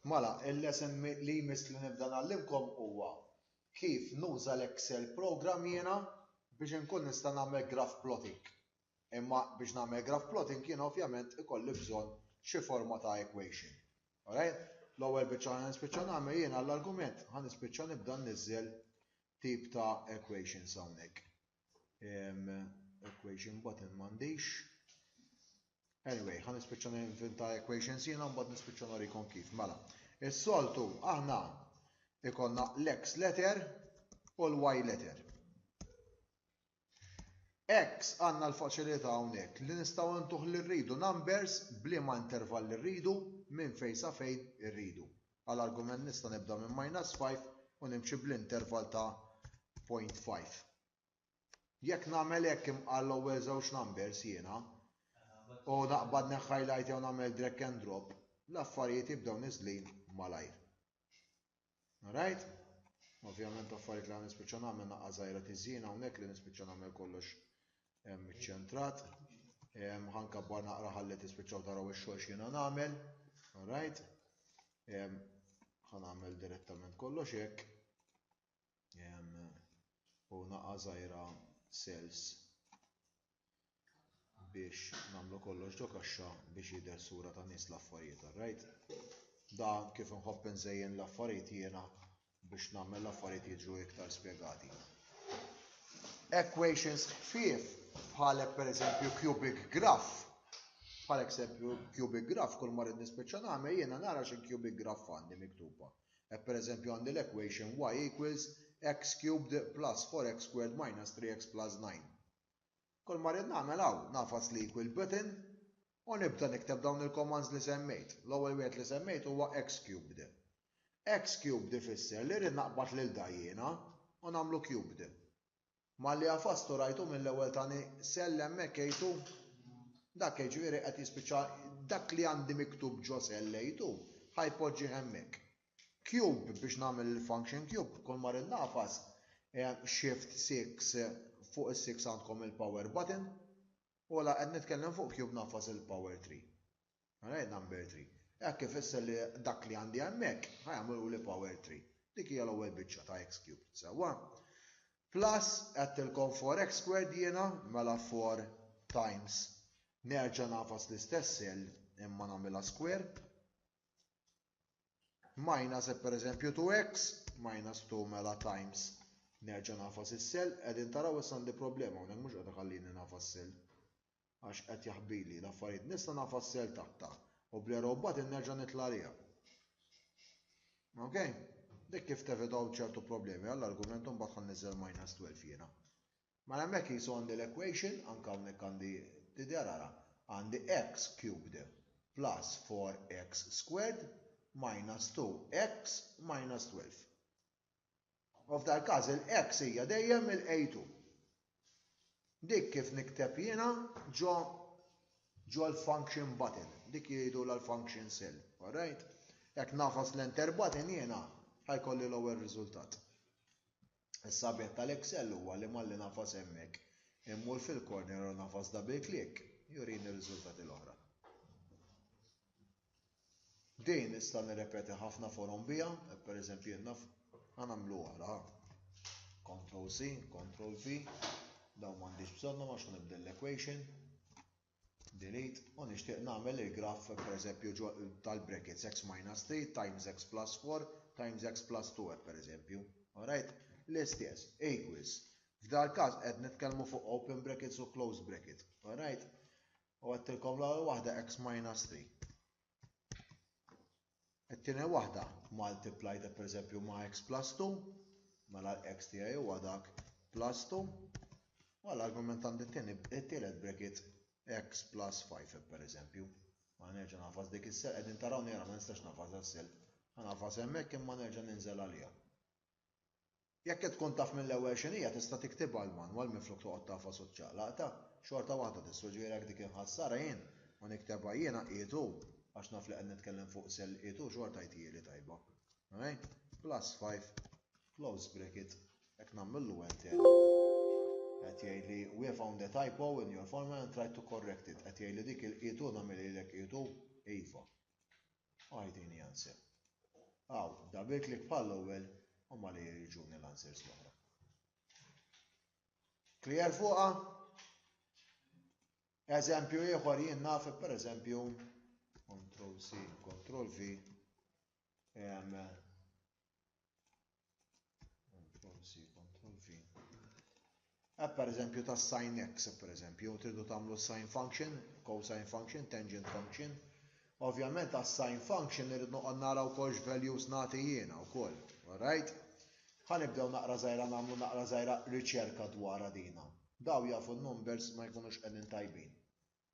Mela, il-lesson li jmiss li nibda ngħallimkom huwa kif nuża l-Excel program jiena biex inkun nista' nagħmel graph plotting. Imma biex nagħmel graph plotting jiena ovvjament ikolli bżonn xi forma ta' equation. Alright? L-ewwel biċċa ħa nispiċċa nagħmel jiena l-argument ħa nispiċċa nibda nniżżel tip ta' equations hawnhekk. equation button m'għandix. Anyway, ħan nispiċċa ninventa equations jiena mbagħad nispiċċa norikom kif. Mela, is-soltu aħna ikonna l-x letter u l-y letter. X għandna l-faċilità hawnhekk li nistgħu ntuħ li rridu numbers bliema intervall li rridu minn fejn sa fejn irridu. Għal argument nista' nibda minn minus 5 u nimxi bl-interval ta' 0.5. Jekk nagħmel hekk imqar l-ewwel żewġ numbers jiena u naqbad neħħajlajt jew nagħmel drag and drop, l-affarijiet jibdew niżlin malajr. Alright? Ovvjament affarijiet li ħa nispiċċa nagħmel naqqa' żgħira tiżjin hawnhekk li nispiċċa nagħmel kollox hemm iċċentrat, hemm ħankabbar naqra ħalli tispiċċaw taraw ix-xogħol x'jiena nagħmel, alright? Hemm ħa nagħmel direttament kollox hekk. U naqa' żgħira cells biex nagħmlu kollox ġo kaxxa biex jidher sura ta' nies l-affarijiet, alright? Dan kif nħobb inżejjen l-affarijiet jiena Biex nagħmel l-affarijiet jiġu iktar spjegati. Equations ħfief bħalek pereżempju cubic graph bħal eżempju cubic graph kull ma rrid nispiċċa nagħmel jiena nara xi cubic graph għandi miktuba. Hekk pereżempju għandi l-equation y equals x cubed plus 4x squared minus 3x plus 9. Kull ma rrid nagħmel hawn nafas li equal button u nibda nikteb dawn il-commands li semmejt. L-ewwel wieħed li semmejt huwa xcubed. Xcubed ifisser li rrid naqbad lil da jiena u nagħmlu cubed. Malli għafastu rajtu mill-ewwel tani cell hemmhekk A2? Dak jiġifieri qed jispiċċa dak li għandi miktub ġo cell A2 ħa jpoġġih hemmhekk. Cube biex nagħmel il-function cube kull ma rrid nagħfas shift six fuq is-six għandkom il-power button. Ola qed nitkellem fuq cube nafas il-power tree. Alright number three. Hekk ifisser li dak li għandi hemmhekk ħa jagħmiluli power tree. Dik hija l-ewwel biċċa ta' x cubed, sewwa? Plus għedtilkom 4x squared jiena, mela 4 times nerġa' nagħfas l-istess cell imma nagħmilha square. Minus e pereżempju 2x, minus 2 mela times nerġa' nafas is-sell, qegħdin taraw issa għandi problema hawnhekk mhux qed iħallini nafas sell. Għax qed jaħbili l-affarijiet nista' nafas sell taħtha u bl mbagħad nerġa' nitla' għaliha. Okay? Dik kif tevitaw ċertu problemi, għall-argument mbagħad ħan niżel minus 12 jiena. Mela hemmhekk qisu għandi l-equation, anke hawnhekk għandi tidher ara, għandi x cubed plus 4x squared minus 2x minus 12. U f'dal każ il-x hija dejjem il-a2. Dik kif nikteb jiena ġo ġo l-function button, dik jgħidulha l-function cell, alright? Jekk nagħfas l-enter button jiena ħajkolli l-ewwel riżultat. Is-sabiet tal-Excel huwa li malli ngħafas hemmhekk, immur fil-corner u ngħafas double click, jurini r-riżultati l-oħra. Din nista' nirrepeti ħafna forom biha, per eżempju jien naf ħa nagħmlu oħra ħa. Control C, Control V, dawn m'għandix bżonnhom għax ħa nibdel l-equation. Delete U nixtieq nagħmel il-graff pereżempju ġo tal-brackets x minus 3 times x plus 4 times x plus 2 hekk pereżempju. Alright? L-istess, equals. F'dal-każ qed nitkellmu fuq open brackets u close bracket. Alright? U għedtilkom l-ewwel waħda x minus 3. It-tieni waħda, multiply ta' pereżempju ma' x plus 2, mela l-x tiegħi huwa dak plus 2, u għall-argument għandi t-tieni, it-tielet brekit x plus 5 pereżempju. Ma nerġa' nagħfas dik is-self, qegħdin tarawni ara ma nistax nagħfasha s-self. Ħa nagħfasha hemmhekk imma nerġa' ninżel għaliha. Jekk qed tkun taf mill-ewwel x'inhi hija tista' tiktibha l-manwal minflok toqgħod tagħfas u ċċaqlaqtha. Xorta waħda tistgħu ġgħirek dik inħassarha jien u niktebha jiena qiegħed hu għax naf li qed nitkellem fuq sell qiegħed hu xorta jtjieli tajba. Alright? Plus five close bracket hekk nagħmillu enter qed jgħidli we found a typo in your formula and tried to correct it qed jgħidli dik il-qiegħed hu nagħmilha lilek qiegħed hu? Iva. Agħtini answer. Hawn, dabek li bħall-ewwel huma li jriġuni l-answers l-oħra. Clear fuqha? Eżempju ieħor jien naf pereżempju Control C, Control V, Eh, per eżempju ta' sin x, per eżempju, tridu tagħmlu sin function, cosine function, tangent function. Ovvjament ta' sin function irrid noqgħod nara wkoll x'values nagħti jiena wkoll. Alright? Ħanibdew naqra żgħira nagħmlu naqra żgħira riċerka dwar dina. Daw jafu n-numbers ma jkunux qegħdin tajbin.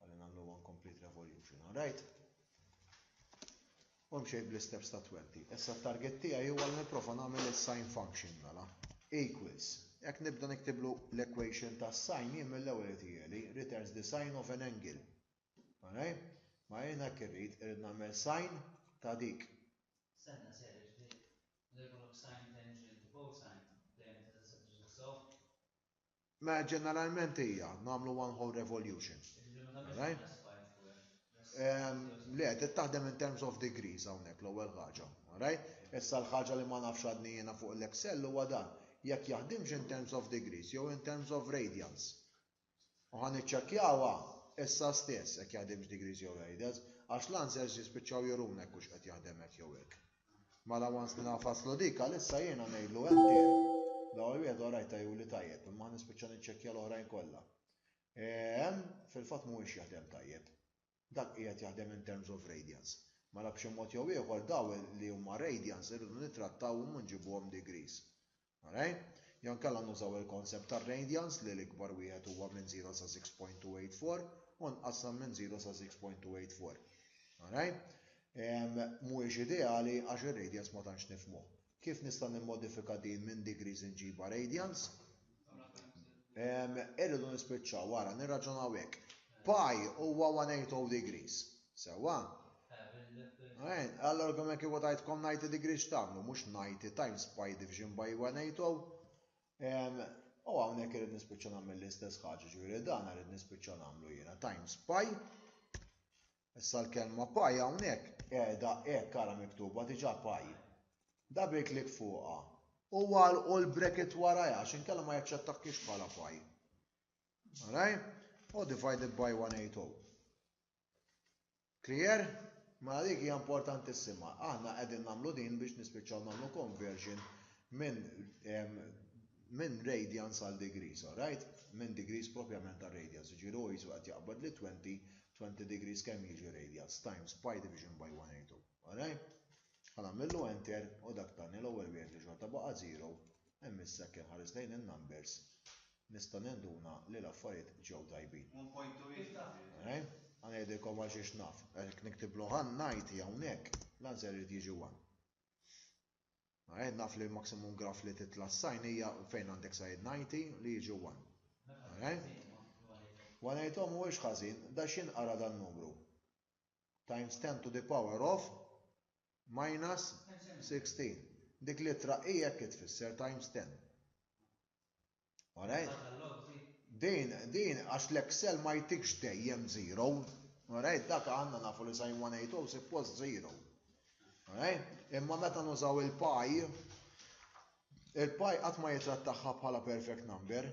Għalli nagħmlu one complete revolution, alright? U mxejt bl-isteps ta' 20. Issa t-target tiegħi huwa li nipprova nagħmel is-sine function mela. Equals. Jekk nibda niktiblu l-equation ta' sine jien mill-ewwel irid jieli returns the sine of an angle. Alright? Ma jien hekk irrid irid nagħmel sine ta' dik. Senna ser iġdid. L-evolution sine tangent cosine dejjem tista' tissettixxa sew. Mela ġeneralment hija, nagħmlu one whole revolution. Le, trid taħdem in terms of degrees hawnhekk l-ewwel ħaġa. Issa l-ħaġa li ma nafx għadni jiena fuq l-Excel huwa dan, jekk jaħdimx in terms of degrees jew in terms of radians. U ħa niċċekkjawha issa stess jekk jaħdimx degrees jew radians, għax l-answers jispiċċaw juruna jekk hux qed jaħdem hekk jew hekk. Mela once li nafaslu dik għalissa jiena ngħidlu hemm tiegħi. L-ewwel wieħed orajta juli tajjeb imma ħa nispiċċa niċċekkja l-oħrajn kollha. Hemm fil-fatt mhuwiex jaħdem tajjeb. Dak qiegħed jaħdem in terms of radians. Mela b'xi mod jew ieħor dawn li huma radians irridu nittrattawhom u nġibuhom degrees. All right? Jew inkella nużaw il-concept tar-radians li l-ikbar wieħed huwa minn 0 sa 6.284 u nqassam minn 0 sa 6.284. All right? Mhuwiex ideali għax ir-radians ma tantx nifhmuh. Kif nista' nimmodifika din minn degrees inġibha radians? Irridu nispiċċaw wara nirraġunaw hekk. Pi huwa 180 degrees. Sewwa? Għajn, allora kemm kieku tajtkom 90 degree x'tagħmlu, mhux 90 times pi division by 180. U hawnhekk irid nispiċċa nagħmel l-istess ħaġa, ġifieri dan irid nispiċċa nagħmlu jiena times pi. Issa l-kelma pi hawnhekk qiegħda hekk ara miktuba diġà pi. Double click fuqha u għalqu l-bracket warajha għax inkella ma jaċċettakiex bħala pi. Alright? U divided by 180. Clear? Mela dik hija importantissima. Aħna qegħdin nagħmlu din biex nispiċċaw nagħmlu conversion minn minn radians għal degrees, alright? Minn degrees propjament għal radians, ġiru jiġifieri jisu qed jaqbad li 20, 20 degrees kemm jiġi radians times pi division by 182, alright? Għana millu enter u dak tani l-ewwel wieħed li xorta baqa' 0, hemm issa kemm ħares lejn in-numbers nista' ninduna li l-affarijiet ġew tajbin. Alright? Ħa ngħidilkom għal xiex naf. Jekk niktiblu ħa ngħid hawnhekk, l-answer irid jiġi 1. Alright? Naf li l-maximum graf li titla' s-sign hija fejn għandek sign 90 li jiġu 1. Alright? Wanejthom mhuwiex ħażin, da x'inqara dan numru? times 10 to the power of minus 16. Dik l-ittra hi hekk tfisser times 10. Alright? Din, din, għax l-Excel ma jtikx dejjem zero. Alright, dak għanna nafu li sajn 180 suppost zero. Alright? Imma meta nużaw il-pie, Il-pi qatt ma jittrattaha bħala perfect number.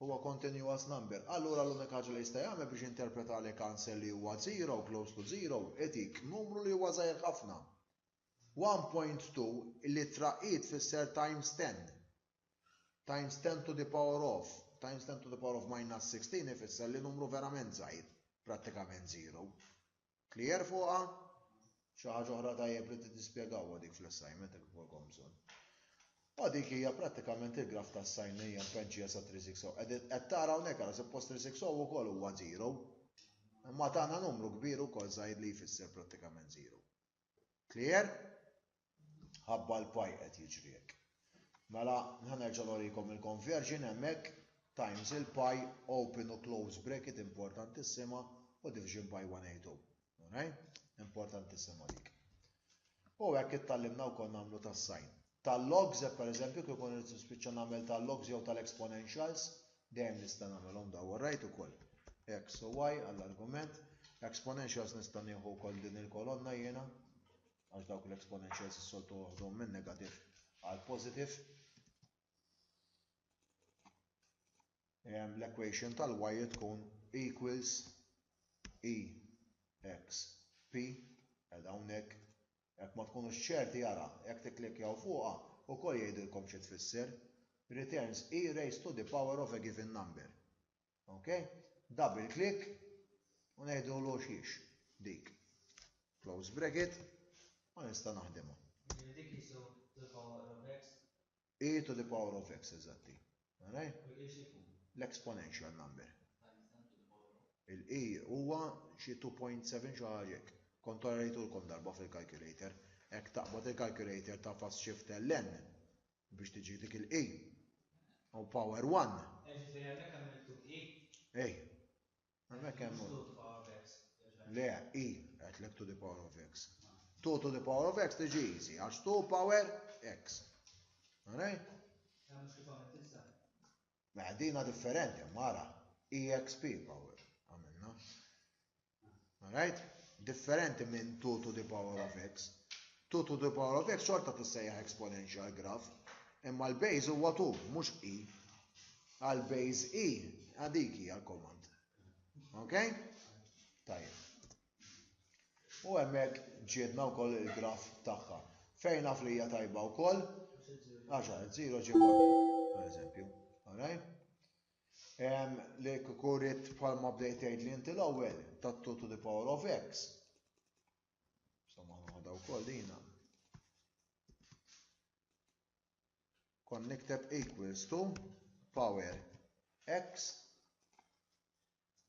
Huwa continuous number. Allura l-unika ħaġa li jista' jagħmel biex jinterpreta li cancel li huwa zero, close to zero, itik numru li huwa żgħir ħafna. 1.2 L-ittra i tfisser times ten. Times ten to the power of times ten to the power of minus 16 ifisser li numru verament żgħir, prattikament zero. Clear fuqha? Xi ħaġa oħra tajjeb li tispjegawha dik fl-assignment jekk ikolkom bżonn. U dik hija prattikament il-graf ta' sin li hija mpenċija sa 360. Qed tara hawnhekk ara suppost 360 ukoll huwa zero. Imma tagħna numru kbir ukoll żgħir li jfisser prattikament zero. Clear? Ħabba l-paj qed jiġri hekk. Mela, ħa nerġa' norikom il-conversion hemmhekk, times il-paj, open u close bracket importantissima u division by 182. Alright? Importantissima dik. U hekk ittallimna wkoll nagħmlu tas-sign. Tal-logs, hekk pereżempju kif ikun irid nispiċċa nagħmel tal-logs jew tal-exponentials, dejjem nista' nagħmelhom daw alright ukoll. X u Y għall-argument, exponentials nista' nieħu wkoll din il-kolonna jiena. għax dawk l-exponentials s-soltu uħdhom minn negativ għal positiv. L-equation tal-y tkun equals e x p għal hawnhekk jekk ma tkunux ċerti jara jekk tikklikjaw fuqha ukoll jgħidilkom xi tfisser returns e raised to the power of a given number. Ok? Double click u neħdu l-oxiex dik. Close bracket u nista' naħdimha. Jiġifieri dik qisu to the power of x? E to the power of x, eżatti. Alright? U l-e x'ikun? L-exponential number. Il-e huwa xi 2.7 xi ħaġa hekk. Kont orajtulkom darba fil-calculator. Hekk taqbad il-calculator ta' fast shift ln Biex tiġi dik il-E. U power 1. Ej. Għamek hemm. Le, E, għetlek to the power of X. 2 to the power of X tiġi easy, għax 2 power X. Għarej? Meħdina differenti, mara. EXP power. Għamilna. Alright? Differenti minn 2 to the power of x. 2 to the power of x xorta tissejjaħ exponential graph, imma l-base huwa 2, mhux i. Għal base i, għadik hija l-komand. Ok? Tajjeb. U hemmhekk ġiedna wkoll il-graf tagħha. Fejn naf li hija tajba wkoll? Għaxa, 0 ġimgħa, per eżempju. Alright? Li kieku ridt bħal ma bdejt tgħidli inti l-ewwel ta' 2 to the power of x. Somma noħodha wkoll dina. Kon nikteb equals to power x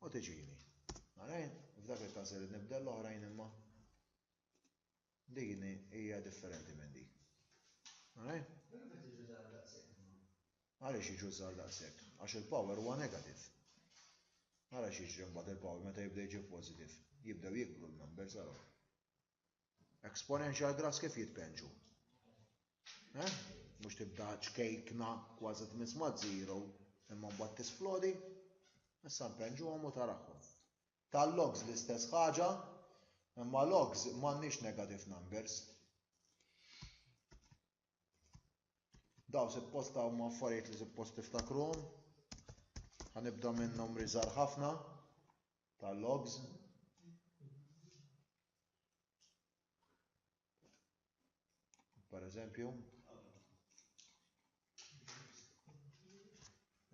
u tiġini. Għarajn, f'dak il-każ irid nibdel l-oħrajn imma. Din hija differenti minn din. Alright? Għaliex jiġu żgħar daqshekk? Għax il-power huwa negative. Ara x'jiġri mbagħad il-power meta jibda jiġi positive. Jibdew jikbru l-numbers ara. Exponential graphs kif jitpenġu? Eh? Mhux tibda ċkejkna kważi tmiss ma' zero imma mbagħad tisplodi. Issa npenġuhom u tarahom. Tal-logs l-istess ħaġa, imma logs m'għandniex negative numbers. Daw suppost huma affarijiet li suppost tiftakruhom. Ħanibda minn numri żgħar ħafna tal-logs. Pereżempju,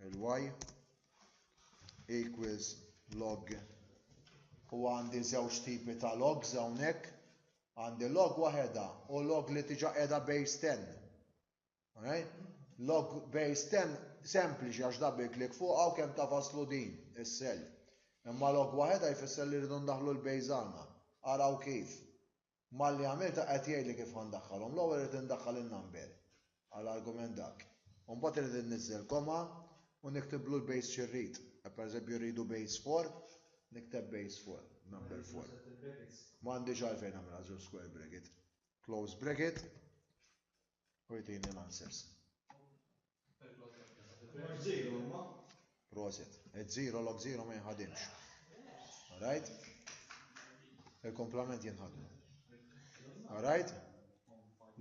il-y equals log u għandi żewġ tipi ta' logs hawnhekk għandi log waħedha u log li tiġa qiegħda base 10. Alright? Log base 10 sempliċi għax double click fuq u kemm ta' faslu din is-sell. Imma log waħedha jfisser li rridu ndaħlu l-base għandna. Araw kif. Malli għamiltha qed jgħidli kif ħa ndaħħalhom. L-ewwel irid indaħħal in-number, għal argument dak. U mbagħad irid inniżżel comma u niktib loop base xi rrid. Hekk pereżempju rridu base four, nikteb base four, number four. M'għandix għalfejn nagħmilha żewġ square bracket. Close bracket. u jtini l-answers. Proset. Ed zero log zero ma jinħadimx. Alright? Il-komplement jinħadmu. Alright?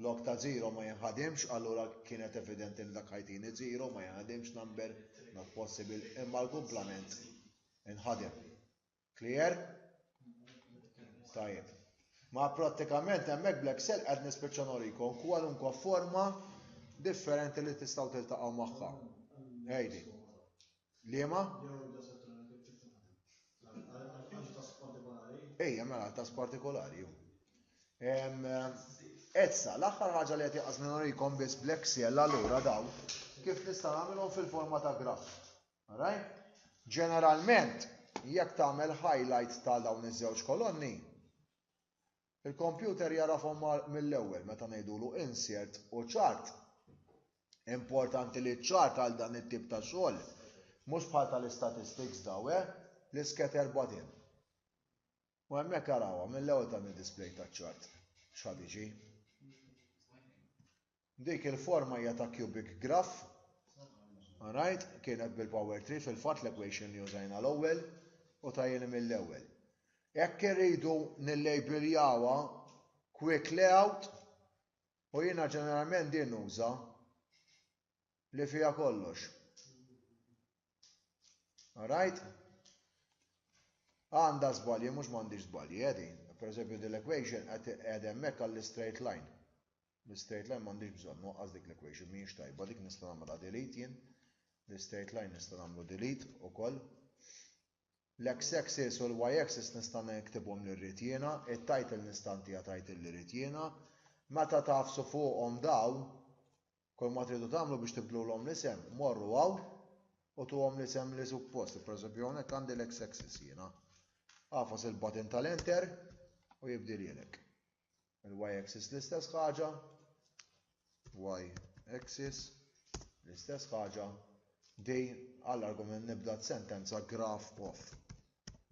Log ta' zero ma jinħadimx, allura kienet evidenti li dak ħajtini zero ma jinħadimx number, not possible, imma l-komplement inħadem. Clear? Tajjeb. Ma prattikament hemmhekk bl-Excel qed nispiċċa norikom kwalunkwe forma differenti li tistgħu tiltaqgħu magħha. Ejdi. Liema? Ejja, mela, tas partikolari. Essa, l-aħħar ħaġa li qed jaqas norikom biss bl-Excel allura daw kif nista' nagħmilhom fil-forma ta' graf. Alright? Ġeneralment, jekk tagħmel highlight ta' dawn iż-żewġ kolonni, il-kompjuter jarafhom mill-ewwel meta ngħidulu insert u chart. Importanti li ċ-chart għal dan it-tip ta' xogħol mhux bħal tal-istatistics daw, eh? L-iscatter button. U hemmhekk arawha mill-ewwel ta' display ta' chart. X'ħad iġi? Dik il-forma hija ta' cubic graph. Alright, kienet bil-power tree fil-fatt l-equation li użajna l-ewwel u ta' jien mill-ewwel. Jekk irridu nillejbiljawha quick layout u jiena ġeneralment din nuża li fiha kollox. Alright? Għandha żbalji mhux m'għandix żbalji eh din. Pereżempju din l-equation qed hemmhekk għall-straight line. L-straight line m'għandix bżonn waqqas dik l-equation mhijiex tajba dik nista' nagħmilha delete jien. L-straight line nista' nagħmlu delete ukoll. L-x axis u l-y axis nista' niktibhom li rrid jiena, it-title nista' ntiha title li rrid jiena. Meta tafsu fuqhom daw, Kulma tridu tagħmlu biex tibdlulhom l-isem, morru hawn u tuhom l-isem li suppost, pereżempju hawnhekk għandi l-x-axis jiena. Agħfas il-button tal-enter u jibdilhielek. Il-y-axis l-istess ħaġa, y-axis l-istess ħaġa, di għall-argument nibda sentenza graph of.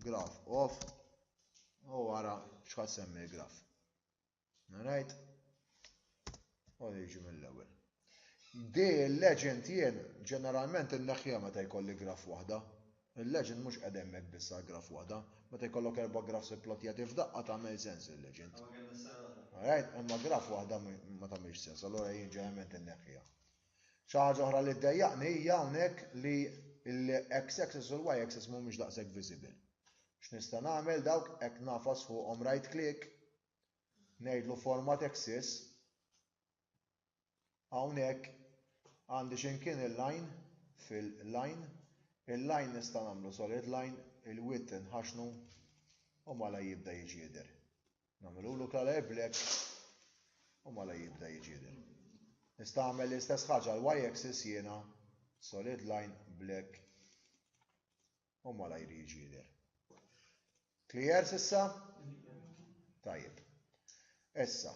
Graph of u ara x'ħassemmi l-graf. Alright? U jiġi mill-ewwel. Di l-legend jien ġeneralment inneħħiha meta jkolli graf waħda. Il-legend mhux qed hemmhekk biss għal graf waħda, meta jkollok erba' grafs ipplotjati f'daqqa tagħmel sens il-legend. Alright, imma graf waħda ma tagħmilx sens, allura jien ġeneralment inneħħiha. Xi ħaġa oħra li ddejjaqni hija hawnhekk li l-x axis u l-y axis mhumiex daqshekk visible. X'nista' nagħmel dawk hekk nafas fuqhom right click ngħidlu forma Texas, hawnhekk għandi x'imkien il-line fil-line, il-line nista' nagħmlu solid line, il-width inħaxnu u malajr jibda jiġi jidher. Nagħmilulu color black u malajr jibda jiġi jidher. Nista' nagħmel l-istess ħaġa l-y axis jiena solid line black u malajr jiġi jidher. Clear s'issa? Tajjeb. Issa,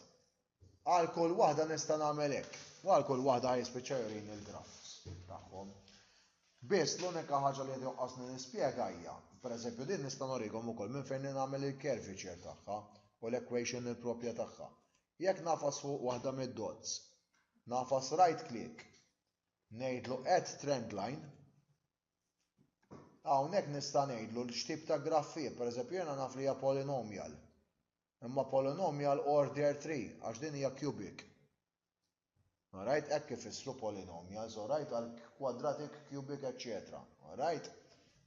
għal kull waħda nista' nagħmel hekk, u għal kull waħda jispiċċa jurini l-grafs tagħhom. Biss l-unika ħaġa li joqqosni nispjega hija, pereżempju din nista' norikom ukoll minn fejn nagħmel il-curvature tagħha u l-equation il-propja tagħha. Jekk nafas fuq waħda mid-dots, nafas right click, ngħidlu add trend line, Hawnhekk nista' ngħidlu x'tip ta' graff hi, pereżempju jiena naf li hija polinomial. Imma polinomial order 3 għax din hija cubic. Alright, hekk ifissru polinomials, alright, għal quadratic, cubic, etc. Alright?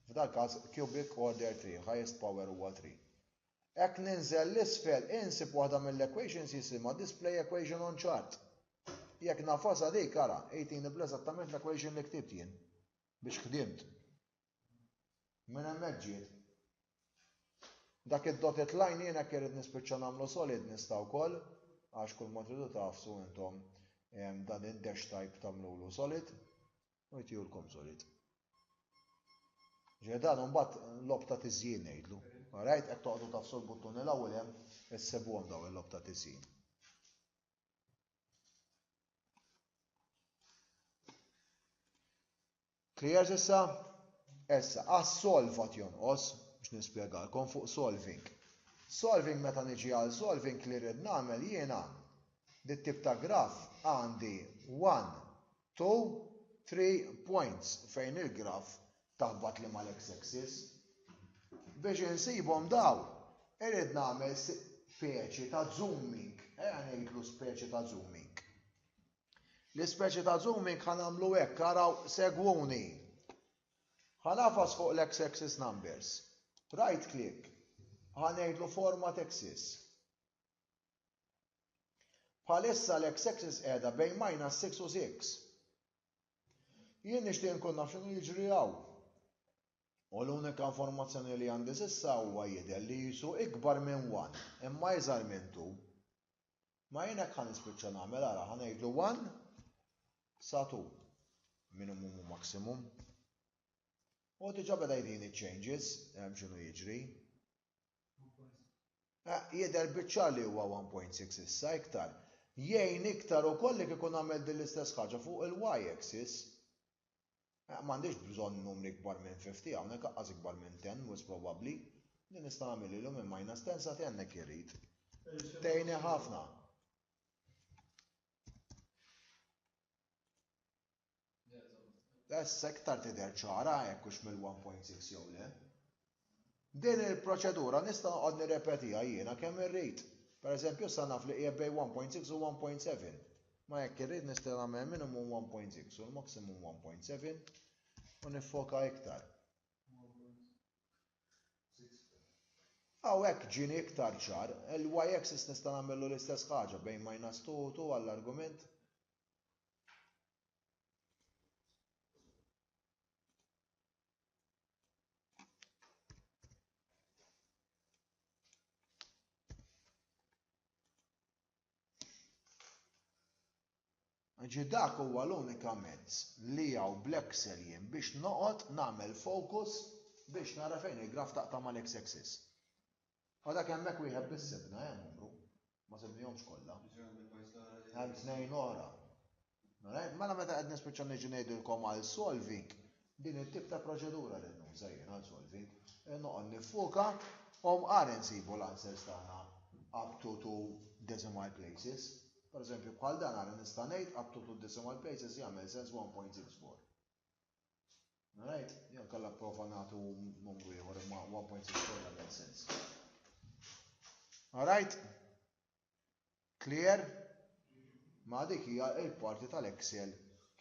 F'dal każ cubic order 3, highest power huwa 3. Hekk ninżel 'l isfel insib waħda mill-equations jisimha display equation on chart. Jekk nagħfasha dik ara jtini bl-eżattament l-equation li ktibt jien biex ħdimt. Minn hemmhekk ġiet. Dak id-dotted line jien hekk irrid nispiċċa nagħmlu solid nista' wkoll għax kulma tridu tagħfsu intom dan id-dash type tagħmlulu solid. u jtihulkom solid. Ġej dan mbagħad lob ta' tiżjin ngħidlu. Rajt qed toqgħodu tafsu l-buttuni l-ewwel hemm issibuhom daw il-lob ta' tiżjin. Clear issa? Issa, għas solvat jonqos biex nispjegalkom fuq solving. Solving meta niġi għal solving li rrid nagħmel jiena dit tip ta' graf għandi 1 Two, three points fejn il-graph taħbat li ma l-x-axis. Biex insibhom dawn, irrid nagħmel speċi ta' zooming, ejja ngħidlu speċi ta' zooming. L-ispeċi ta' zooming ħa nagħmlu hekk, araw segwuni. Ħa nafas fuq l-x-axis numbers. Right click, ħa ngħidlu format axis. Bħalissa l-x-axis qiegħda bejn minus 6 u 6. Jien nixtieq inkun naf x'inhu jiġri hawn. U l-unika informazzjoni li għandi s'issa huwa jidher li qisu ikbar minn 1 imma iżgħar minn 2. Ma jien hekk ħa nispiċċa nagħmel ara ħa ngħidlu 1 sa 2 minimum u maximum. U diġà beda jtini changes hemm x'inhu jiġri. Jidher biċ-ċar li huwa 1.6 issa iktar. Jgħin iktar ukoll jekk ikun għamilt din l-istess ħaġa fuq il-Y axis. M'għandix bżonn numri ikbar minn 50 hawnhekk aqqas ikbar minn 10 wis probabbli. Din nista' nagħmilhilu minn minus 10 sa 10 hekk irrid. Tgħinni ħafna. Issa iktar tidher ċara jekk hux mill-1.6 jew le. Din il-proċedura nista' noqgħod nirrepetiha jiena kemm irrid. Pereżempju issa naf li hija bejn 1.6 u 1.7. Ma jekk irrid nista' nagħmel minimum 1.6 u l-maximum 1.7 u niffoka iktar. Hawnhekk ġieni iktar ċar, il-y-axis nista' nagħmillu l-istess ħaġa bejn minus 2 u 2 għall-argument. Ġi dak huwa l-unika mezz li hawn bl-Excel jien biex noqgħod nagħmel focus biex nara fejn il-graf taqta' mal-x-axis. Għadek hemmhekk wieħed biss sibna, eh, numru. Ma sibnihomx kollha. Hemm tnejn oħra. Mela meta qed nispiċċa niġi ngħidilkom għal solving, din it-tip ta' proċedura li nuża jien għal solving, eh, noqgħod nifuka u mqar insibu l-answers tagħna up to two decimal places. Per eżempju, bħal dan għara nista' ngħid up to two decimal places jagħmel sens 1.64. Alright, jew kalla prova nagħtu numru ieħor imma 1.6 kien jagħmel sens. Alright? Clear? Ma dik hija l-parti tal-Excel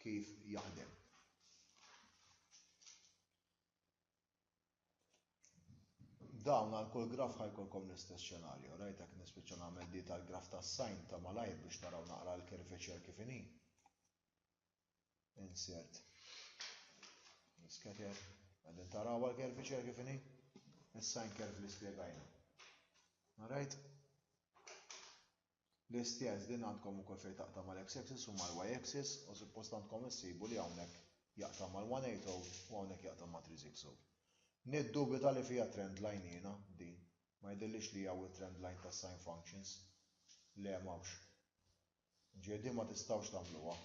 kif jaħdem. Dawn għal kull graf ħajkolkom l-istess xenarju, rajt hekk nispiċċa nagħmel di tal-graf tas-sajn ta' malajr biex naraw naqra l-kirfiċer kif inhi. insert l-iskater għadin taraw għal-kerviċer kif inhi is-sign curve li spjegajna. Alright? L-istess din għandkom ukoll fejn taqta' mal-x-axis u mal-y-axis u suppost għandkom issibu li hawnhekk jaqta' mal-180 u hawnhekk jaqta' ma' 360. Niddubita li fiha trend line jiena din, ma jidhirlix li hawn trend line tas-sign functions. Le m'hawnx. Ġieli ma tistgħux tagħmluha.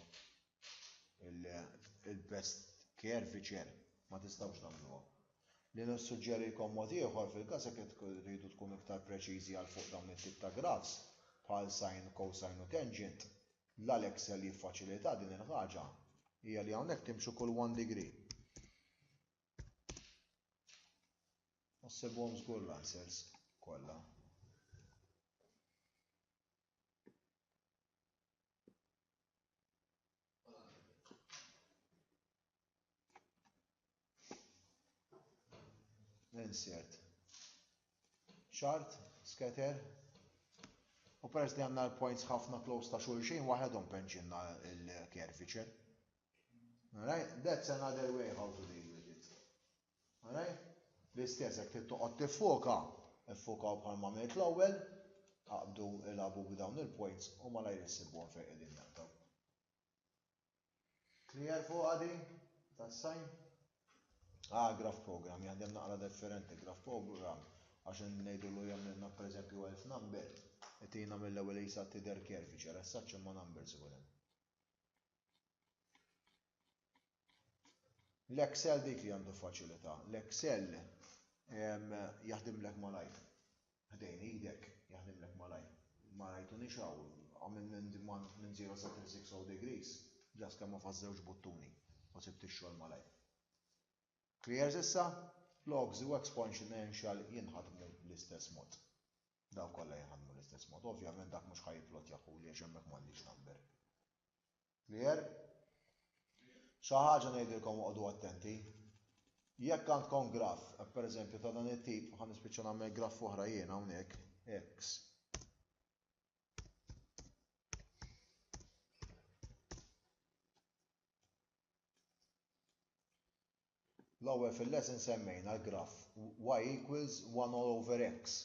Il-best care viċer ma tistgħux tagħmluha. Li nissuġġerilkom mod ieħor fil-każ jekk tridu tkunu iktar preċiżi għal fuq dawn it-tip ta' grafs bħal sine, cosine u tangent, la l-Excel jiffaċilitha din il-ħaġa, hija li hawnhekk timxu kull one degree. U ssibhom żgur l-answers kollha. insert. Chart, scatter, u peress li għanna l-points ħafna close ta' xulxin, waħedhom penċinna il-curvature. Alright, that's another way how to deal with it. All right? L-istess jekk trid toqgħod tiffoka, iffokaw bħalma għamilt l-ewwel, aqbdu ilagħbu b'dawn il-points u malajr issibuhom fejn qegħdin jaqtaw. Clear fuq għadi? Tas-sajn? Ah, graph program, jaħdem naqra differenti, graph program, għax ngħidu lu jagħmlilna pereżempju elf number, itina mill-ewwel jisa tidher curvature, as such imma numbers ikun hemm. L-Excel dik li għandu faċilità. L-Excel jaħdimlek malajr. Ħdejn idek jaħdimlek malajr. Ma rajtu nixaw, għamil minn 0 sa 360 degrees, ġas kemm ma fażżewx buttuni u sibt ix-xogħol malajr. Clear issa? Logs u exponential jinħadmu l-istess mod. Daw kollha jinħadmu l-istess mod. Ovvjament dak mhux ħajplot jaħu li għax hemmhekk m'għandix number. Clear? Xi ħaġa ngħidilkom oqogħdu attenti. Jekk għandkom graff, per eżempju ta' dan it-tip, ħa nispiċċa nagħmel graff oħra jien hawnhekk, x. L-ewwel fil-lesson semmejna l-graff y equals 1 all over x.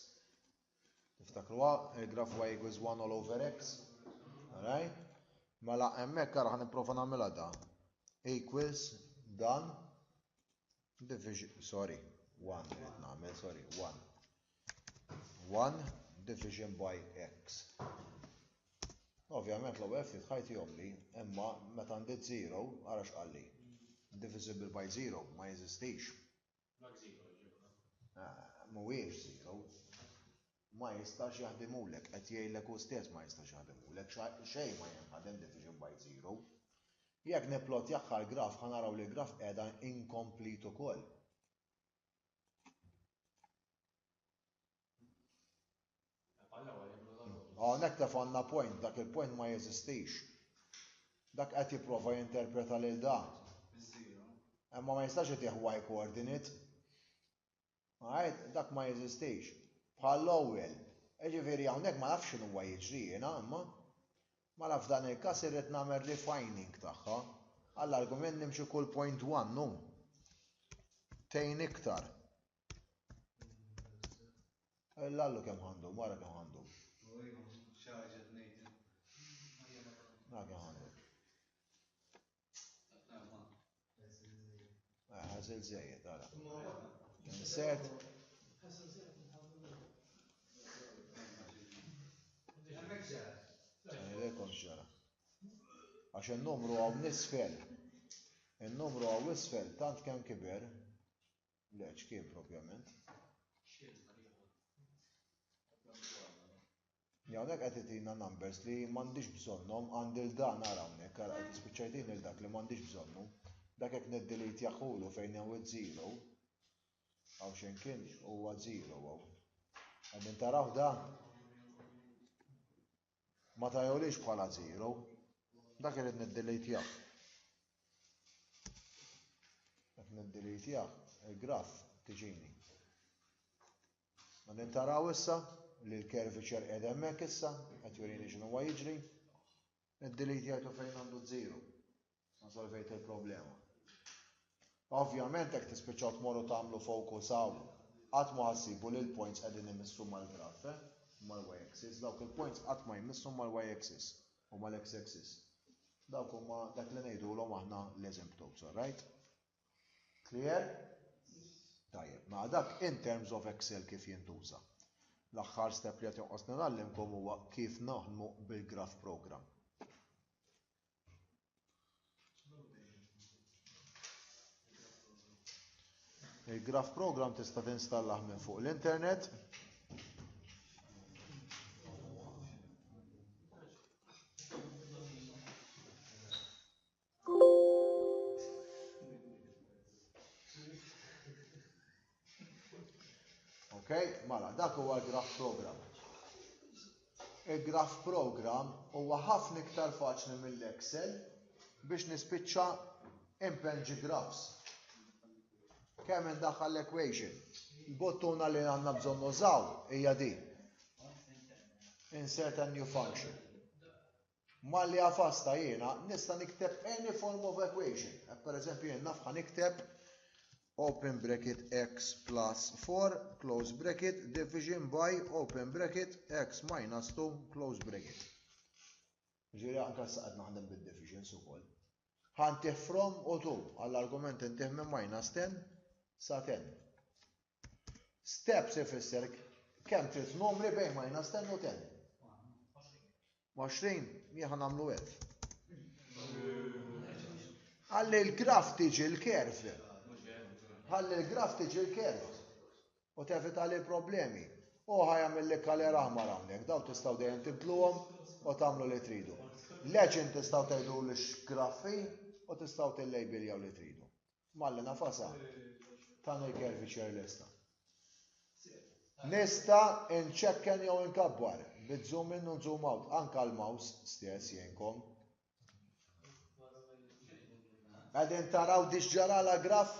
Tiftakruha il-graff y equals 1 all over x? Alright? Mela hemmhekk ara ħanipprova nagħmilha da. Equals dan division sorry 1 rrid nagħmel sorry 1. 1 division by x. Ovvjament l-ewwel ftit ħajt jomli, imma meta ndid 0, ara x'qalli. Divisible by 0 ma jeżistix. Mhuwiex 0. Ma jistax jaħdimulek, qed jgħidlek hu stess ma jistax jaħdimulek, xejn ma jinħadem division by 0. Jekk nipplotjah għall-graf ħa naraw li l-graf qiegħda incomplete ukoll. Hawnhekk tefgħalna point, dak il-point ma jeżistix. Dak qed jipprova jinterpreta lil dan. Imma ma jistax itih y coordinate. Għajt, dak ma jeżistix. Bħal l-ewwel. Jiġifieri hawnhekk ma nafx x'inhu jiġri jiena imma. Mela f'dan il-każ irrid nagħmel refining tagħha. Għall-argument nimxi kull point one u. Tgħin iktar. L-allu kemm ħandum, ara kemm ħandum. Ara kemm ħandum. Għazil ah, zejed, għala. Insert. Rekom xara. Għax il-numru għaw nisfel. Il-numru għaw nisfel, tant kem kiber. Leċ, kien propjament. Li hawnhekk qed itina numbers li m'għandix bżonnhom, għandi 'l dan ara hawnhekk, ara qed tispiċċajtini 'l dak li m'għandix bżonnu. Dak jekk niddelitjah hu lu fejn hawn iż-żero, hawn xejn kien huwa żero hawn. Qegħdin tarawh da? Ma tajolix bħala żero. Dak irid niddelitjah. Qed niddelitjah il-graf tiġini. U nintaraw issa li l-curvature qiegħda hemmhekk issa, qed jurini x'inhu huwa jiġri. Id-delete jgħidu fejn għandu zero. Ma solvejt il-problema. Ovvjament hekk tispiċċaw tmorru tagħmlu focus hawn. Qatt ma ħassibu li l-points qegħdin imissu mal-graf, eh? mal-y axis, dawk il-points qatt ma jmissu mal-y axis u mal-x axis. Dawk huma dak li ngħidulhom aħna l-asymptotes, all right? Clear? Tajjeb, ma dak in terms of Excel kif jintuża. L-aħħar step li qed jonqos nagħllimkom huwa kif naħdmu bil-graph program. Il-graph program tista' tinstallah minn fuq l-internet. Ok, mala, dak huwa l-graf program. Il-graf program huwa ħafna iktar faċli mill-Excel biex nispiċċa impenġi grafs. Kemm indaħħal l-equation? Il-bottuna li għandna bżonn nużaw hija din. Insert a new function. Malli għafasta jiena nista' nikteb any form of equation. Hekk pereżempju jien naf ħa nikteb open bracket x plus 4 close bracket division by open bracket x minus 2 close bracket. Ġiri anke sa qed naħdem bid-divisions ukoll. Ħantih from u 2 għall-argument intih minn minus 10 sa 10. Steps ifisser kemm trid numri bejn minus 10 u 10. 20 jieħa nagħmlu hekk. Ħalli l-graf tiġi l-kerf. Ħalli l-graf tiġi l-kerf. U tevita li problemi. U ħajamil li kaler aħmar hawnhekk, daw tistgħu dejjem tibdluhom u tagħmlu li tridu. Leġin tistgħu tgħidu li x'graffi u tistgħu tillejbiljaw li tridu. Malla nafasha. Tagħna l-kervi ċer lesta. Nista nċekken jew nkabbar, bit zoom in u zoom out, anka l-mouse stess jenkom. Għadin taraw diġġara la graf?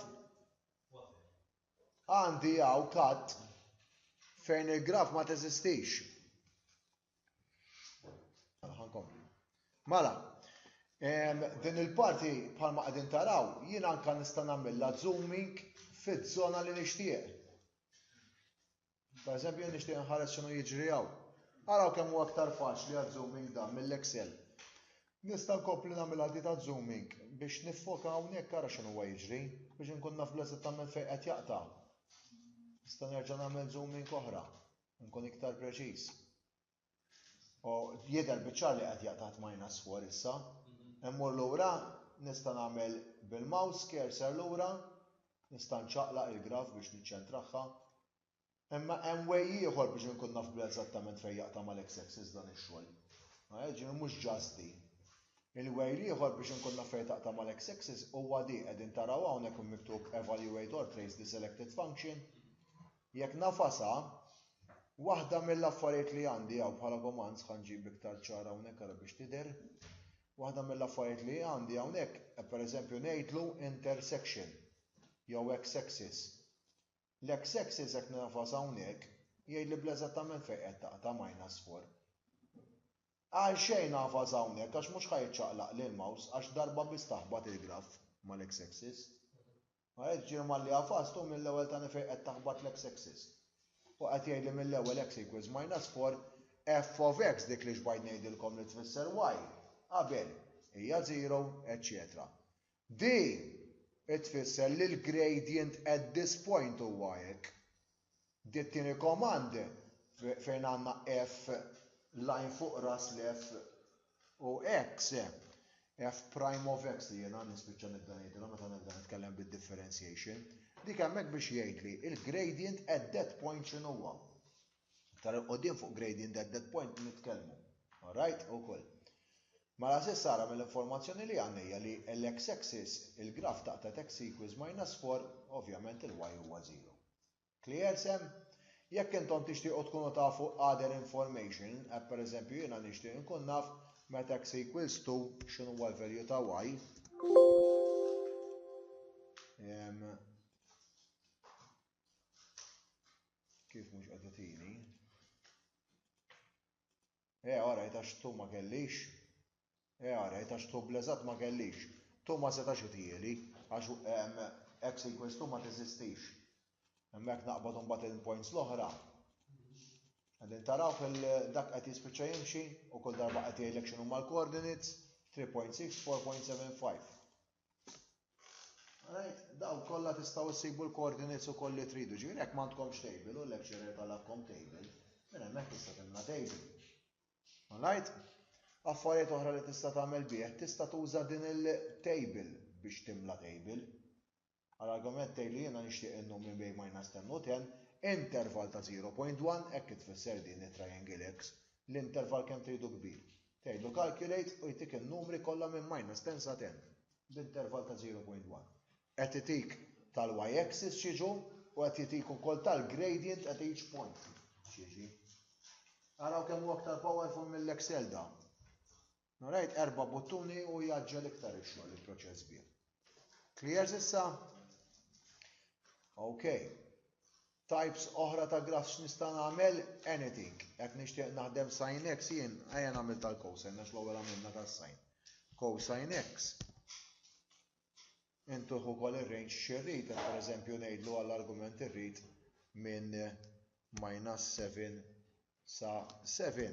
Għandi għaw kat fejn il-graf ma teżistix. Mela, din il-parti bħalma qegħdin taraw, jien anka nista' nagħmilha zooming fiż-żona li nixtieq. Per eżempju, nixtieq nħares x'inhu jiġri hawn. Araw kemm huwa aktar faċli għal zooming dan mill-Excel. Nista' nkompli nagħmel għal ta' zooming biex nifoka hawnhekk ara x'inhu huwa jiġri biex inkun naf bl-eżattament fejn qed jaqta'. Nista' nerġa' nagħmel zooming oħra. Nkun iktar preċiż. U jidher biċċar li qed jaqtgħat minus 4 issa. Immur lura nista' nagħmel bil-mouse cursor lura, nista' nċaqlaq il-graf biex niċċentrahha. Imma hemm way ieħor biex inkun naf bl-eżattament fejn jaqta' mal-x-axis dan ix-xogħol. Ġifieri mhux ġast di. Il-way l-ieħor biex inkun naf fejn taqta' mal-x-axis huwa di qegħdin taraw hawnhekk miktub evaluate or trace the selected function. Jekk ngħafasha, waħda mill-affarijiet li għandi hawn bħala gomanz, ħa nġib iktar ċar hawnhekk ara biex tidher, waħda mill-affarijiet li għandi hawnhekk, pereżempju ngħidlu intersection jew x-axis. L-x-axis jekk ngħafas hawnhekk, jgħidli bl-eżattament fejn qed taqta' minus 4. Għalxejn ngħafas hawnhekk għax mhux ħa jiċċaqlaqli l-mouse għax darba biss taħbat il-graff mal-x-axis. Ma għedtx ġie malli għafast u mill-ewwel tani fejn qed taħbat l-X axis. U qed jgħidli mill-ewwel X equals minus 4 f of X dik li xbajt ngħidilkom li tfisser Y qabel hija zero eċċetera. Din tfisser li l-gradient at this point huwa hekk. Di t-tieni command fejn għandna F line fuq ras l-F u X, F prime of X li jiena nispiċċa nibda ngħidilha meta nibda nitkellem bid-differentiation, dik hemmhekk biex jgħidli l-gradient at that point x'inhuwa. Iktar 'il quddiem fuq gradient at that point nitkellmu. All right? Ukoll. Mela s'issa ara mill-informazzjoni li għandna hija li l-x axis, il-graf ta' at x equals minus 4, ovvjament il-y huwa 0. Cliercem, Jekk intom tixtiequ tkunu tafu other information, hekk pereżempju jiena nixtieq inkun naf meta x equals to x'inhuwa l-value ta' y, ehm, kif mhux qed itini, Ea rajt għax tu ma kellix. Ea rajt għax tu bl-eżatt ma kellix. Tu ma setax itieli, għax hekk sequence tu ma teżistix. Imma jekk naqbad imbagħad il-points l-oħra, Għadin taraw fil-dak qed jispiċċa jimxi u kull darba qed jgħidlek x'inhuma l-coordinates 3.6, 4.75. Daw kollha tistgħu ssibu l-coordinates ukoll li tridu. Ġifieri jekk m'għandkomx table u l-lecturer talabkom table, minn hemmhekk tista' timla table. Alright? Affarijiet oħra li tista' tagħmel bih, tista' tuża din il-table biex timla table. Għal argument tgħid li jiena nixtieq in-num minn bejn minus 10 u 10, interval ta' 0.1 hekk tfisser din it-triangle X. L-interval kemm tridu kbir. Tgħidlu calculate u jtik in-numri kollha minn minus 10 sa 10 b'intervall ta' 0.1. Qed itik tal-y axis x'jiġu u qed jitik ukoll tal-gradient at each point x'jiġi. Araw kemm hu aktar powerful mill-Excel dan. All right, erba' buttuni u jgħaġġel iktar ix-xogħol il-proċess bih. Clear sissa? Ok. Types oħra ta' graf x'nista' nagħmel? Anything. Jekk nixtieq naħdem sin x jien ejja nagħmel tal-cosine għax l-ewwel għamilna tas-sin. Cosine x. Intuħ ukoll ir-range xirrid, pereżempju ngħidlu għall-argument irrid minn minus 7 sa 7.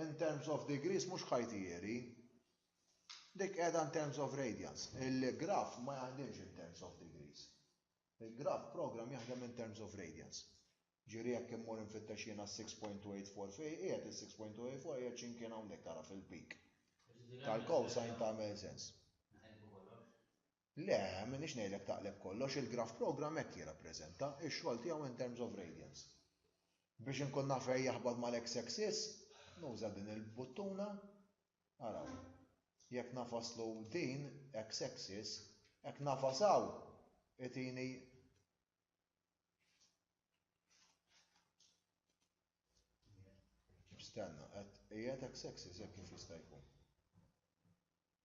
In terms of degrees mhux ħajtieri. Dik qiegħda in terms of radians. Il-graph ma jaħdimx in terms of degrees. Il-graph program jaħdem in terms of radians. Ġieri jekk immur infittex jiena s-6.284 fej qiegħed is-6.284 qiegħed x'imkien hawnhekk ara fil-peak. Tal-cosine tagħmel sens. Le, m'iniex ngħidlek taqleb kollox, il-graph programme hekk jirrappreżenta, ix-xogħol tiegħu in terms of radians. Biex inkun naf fejn jaħbat mal-X axis, nuża din il-buttuna, araw, jekk ngħafaslu din, X axis, hekk ngħafas hawn, itini Stenna, qed qiegħed X axis hekk kif jista' jkun.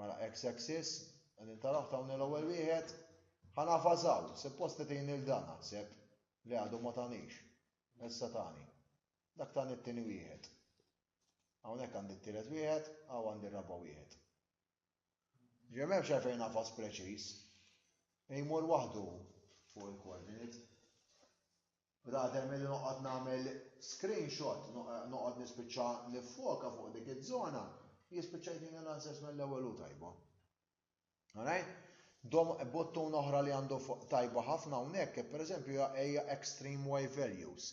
Mela ex axis, għadin taraw tawni l-ewwel wieħed, ħana fażaw, suppost li tini l-dan naħseb, li għadu ma tanix, issa tani, dak tani t-tini wieħed. Hawnhekk għandi t-tielet wieħed, għaw għandi r-raba wieħed. Ġem hemm xejn nafas preċiż, jmur waħdu fuq il-koordinit. Rather milli noqgħod nagħmel screenshot noqgħod nispiċċa niffoka fuq dik iż-żona, jispiċċa jtini l-answers mill-ewwel hu tajba. Alright? Dom buttun oħra li għandu tajba ħafna hawnhekk pereżempju hija extreme y values.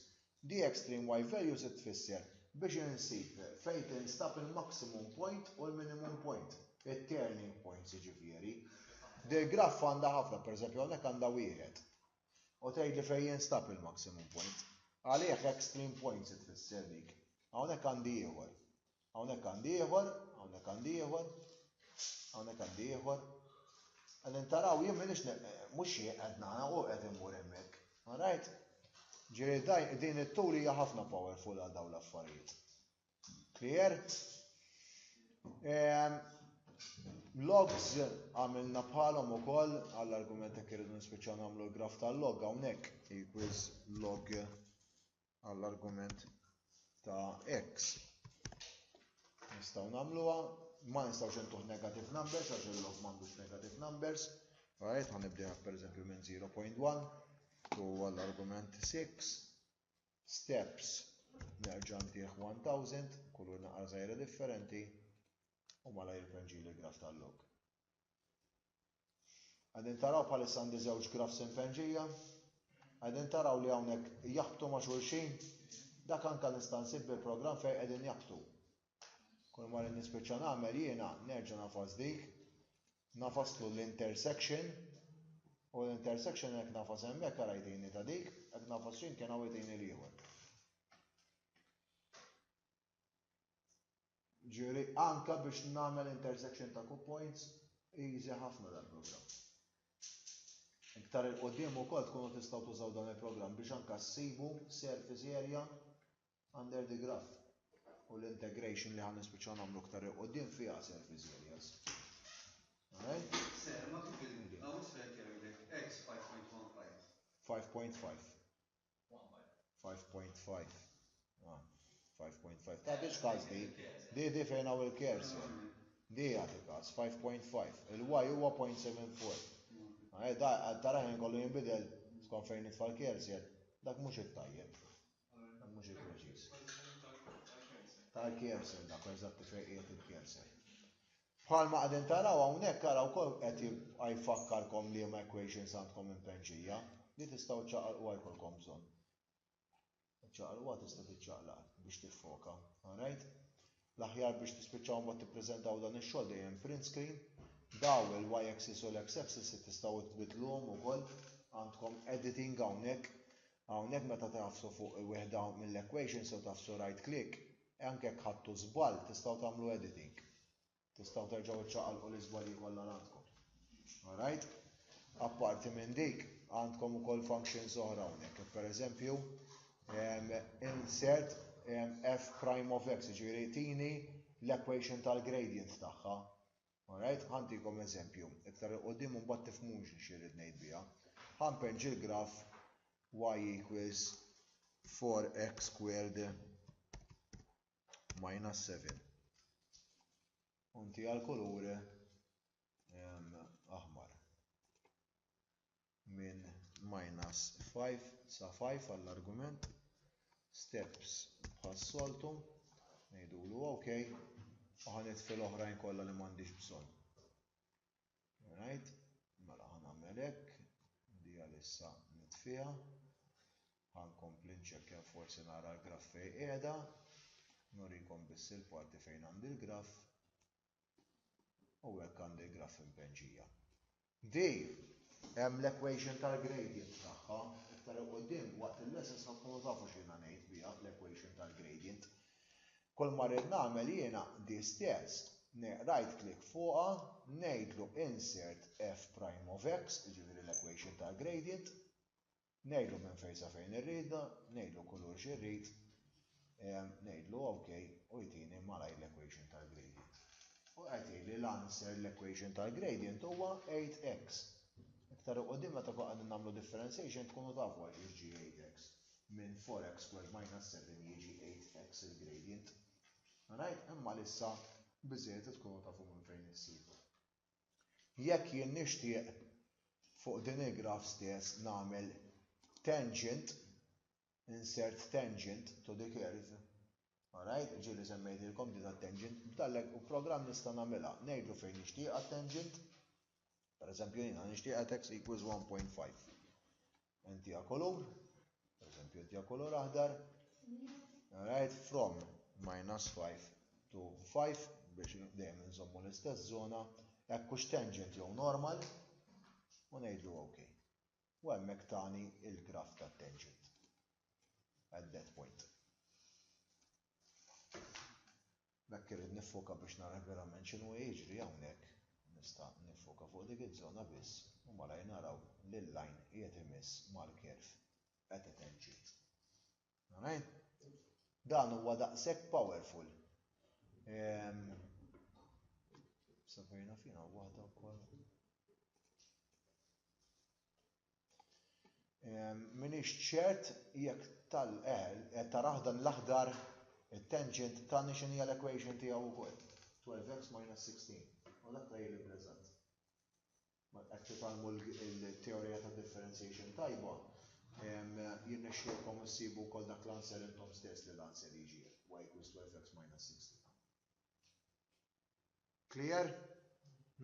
Di extreme y values tfisser biex insib fejn tinstab il-maximum point u l-minimum point, it-turning points jiġifieri. Dil-graff għandha ħafna, pereżempju hawnhekk għandha wieħed. U tgħidli fejn jinstab il-maximum point. Għalih extreme point se tfisser dik. Hawnhekk għandi ieħor. Hawnhekk għandi ieħor, hawnhekk għandi ieħor, hawnhekk għandi ieħor. Għadin taraw jien minix mhux qed nara u qed immur hemmhekk. Alright? Ġieli din it-tul hija ħafna powerful għal dawn l-affarijiet. Clear? Ehm, logs għamilna bħalhom ukoll għall-argument jekk irridu nispiċċaw nagħmlu l-graf tal-log hawnhekk equals log għall-argument ta' x. Nistgħu nagħmluha, ma nistgħux intuħ negative numbers għax il-log m'għandux negative numbers. Right, ħanibdeha pereżempju minn 0.1 u għall-argument 6 steps nerġa' ntih 1000, kull wieħed naqra żgħira differenti u malajr iban ġieli l-graph tal-log. Qegħdin taraw bħalissa għandi żewġ graphs impenġija, qegħdin taraw li hawnhekk jaħbtu ma' xulxin, dak anke nista' nsib bil-programm fejn qegħdin jaħbtu. Kull ma rrid nispiċċa nagħmel jiena nerġa' nagħfas dik, nagħfas tlu l-intersection u l-intersection hekk nagħfas hemmhekk ara jtini ta' dik, hekk nagħfas x'imkien hawn jtini l-ieħor. Ġieri anka biex nagħmel intersection ta' coup points easy ħafna dal-programm. Iktar il-qoddim ukoll tkunu tistgħu tużaw dan il-programm biex anka ssibu surface area Under the graph u l-integration li ħan nispiċċaw nagħmlu aktar il qudiem fiha surface areas. Alright? Sir, ma kif il-mudi, għaw sfel jgħidlek x 5.15. 5.5. 5.5. 5.5. Ta' biex każ di, di di fejn għaw il-kers, di għat il-każ, 5.5. Il-y huwa 0.74. Għaj, da, tara jen kollu jimbidel, skon fejn nitfall kers, jen, dak mux il-tajjeb. Mhux il-preċiż. Tal-cancer dak eżatti fejn qiegħed il-cancer. Bħalma qegħdin taraw hawnhekk ara wkoll qed jfakkarkom li ma equations għandkom impenġija li tistgħu ċaqalqu għajkolkom bżonn. Ċaqalqu tista' tiċċaqlaq biex tiffoka. Alright? L-aħjar biex tispiċċaw imbagħad tippreżentaw dan ix-xogħol dejjem print screen. Daw il-y axis u l-x axis li tistgħu tbiddluhom ukoll. Għandkom editing hawnhekk. Hawnhekk meta tagħfsu fuq wieħda mill-equations u tagħfsu right click, anke jekk ħadtu żball tistgħu tagħmlu editing. Tistgħu terġgħu iċċaqalqu l-iżbalji kollha li għandkom. Alright? Apparti minn dik, għandkom ukoll functions oħra hawnhekk. Pereżempju, Insert f prime of x, ġifieri tini l-equation tal-gradient tagħha. Alright, ħantikom eżempju, iktar il qudiem u mbagħad tifhmux li xirrid ngħid biha. Ħanpenġ il-graf y equals 4x squared minus 7. Unti għal kulur aħmar. minn minus 5 sa 5 għall-argument, steps bħas-soltu, ngħidulu ok, u ħa nitfi l-oħrajn kollha li m'għandix bżonn. Alright, mela ħa nagħmel hekk, di għalissa nitfiha, ħa nkompli nċekkja forsi nara l-graff fejn qiegħda, nurikom biss il-parti fejn għandi l-graff, U hekk għandi l-graff impenġija. Di, hemm l-equation tal-gradient tagħha, iktar 'il quddiem waqt il-lessons ħa tkunu tafu x'jiena ngħid biha l-equation tal-gradient. Kull ma rrid nagħmel jiena di stess, right click fuqha, ngħidlu insert f prime of x, jiġifieri l-equation tal-gradient, Ngħidlu minn fejn sa fejn irridha, ngħidlu kulur xi rrid, ngħidlu ok u jtini malajr l-equation tal-gradient. U qed jgħid li l-answer l-equation tal-gradient huwa 8x. Iktar il-qudiem meta nkunu qegħdin nagħmlu differentiation tkunu tafu għal xiex ġie 8x. Minn 4x squared minus 7 jiġi 8x il-gradient. Alright, imma għalissa biżżejjed li tkunu tafu minn fejn issibu. Jekk jien nixtieq fuq din il-graph stess nagħmel tangent, insert tangent to the curve, alright, ġieli semmejtilkom di tat-tangent, b'dallek u programm nista' nagħmilha, ngħidlu fejn nixtieqha t-tangent, pereżempju jiena nixtieqha x equals 1.5. Inti a kolur, per esempio, inti a kolur aħdar, right, from minus 5 to 5 biex dejjem nżommu l-istess zona, hekk hux tangent jew normal, u ngħidlu ok. U hemmhekk tani il-graf ta' tangent at that point. B'hekk irrid niffoka biex nara verament x'inhu qe jiġri hawnhekk. Nista' niffoka fuq dik iz-zona biss u malajr naraw li l-lajn qiegħed imiss mal-kerv qed iteġġi. Amen? Dan huwa daqshekk powerful. Ehm, Sabrina fina waħda wkoll. M'iniex ċert jekk tal qed tarah dan l-aħdar it-tangent tagħni x'inhi hija l-equation tiegħu wkoll. 12x minus 16. U dak tgħid li preżent. Ma qed titgħallmu l-teorija ta' differentiation tajba, jirnexxielkom issibu wkoll dak l-answer intom stess li l-answer jiġi y equals 12x minus 16. Clear?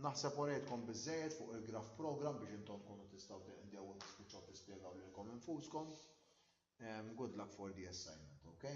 Naħseb orejtkom biżżejjed fuq il-graph programme biex intom tkunu tistgħu tinqdew u tispiċċaw tispjegaw lilkom infuskom. Good luck for the assignment, okay?